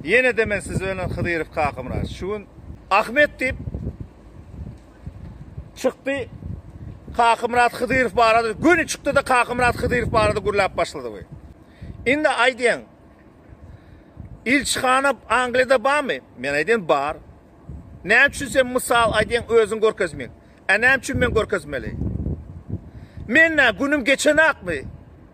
Ýene-de men sizi önen Hydyrow Kakamyrat. Şu gün Ahmet diýip çykdy. Kakamyrat Hydyrow barada göni çykdy-da Kakamyrat Hydyrow barada gürläp başlady bu. Indi aýdýaň. Ilçihana Angliýada barmy? Men aýdýan bar. Näme üçin sen mysal aýdýaň özüň görkezmeýin? Ä näme üçin men görkezmeli? Men nä günüm geçenakmy?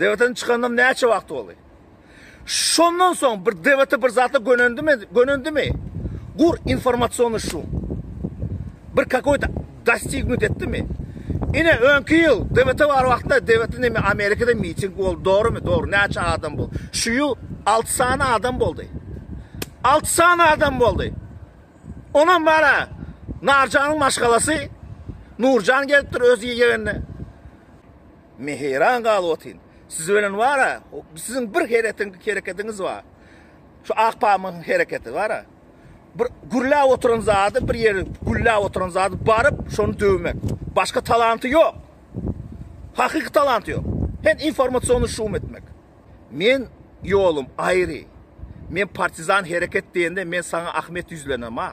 Debete çykanynam näçe wagt boldy? Şondan soň bir debete bir zatla gönendimi? Gönendimi? Gur informasiýony şu. Bir kakoýta dostignut etdimi? Ine öňki ýyl debete bar wagtynda debete näme Amerikada miting boldy, dogrymy? Dogry, näçe adam boldy? Şu ýyl 6 sany adam boldy. 6 sany adam boldy. Onam bara Narjanyň maşgalasy Nurjan gelipdir öz ýegenine. Men heýran galyp otyryn. Siz ölen bar-a, siziň bir heretiň, hereketiňiz bar. Şu Akpamyň hereketi bar-a. Bir gürläp oturan zady, bir ýeri gülläp oturan zady baryp, şony döwmek. Başga talanty ýok. Hakyky talanty ýok. Hem informasiony şum etmek. Men ýolum aýry. Men partizan hereket diýende men saňa Ahmet ýüzlenem-a.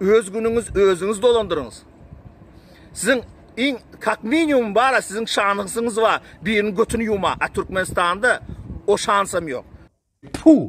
öz günüňiz özüňiz dolandyryňyz. Siziň iň kak minimum bara siziň şanyňyz bar. Birini götüni ýuma. A Türkmenistanda o şansam ýok. Puh!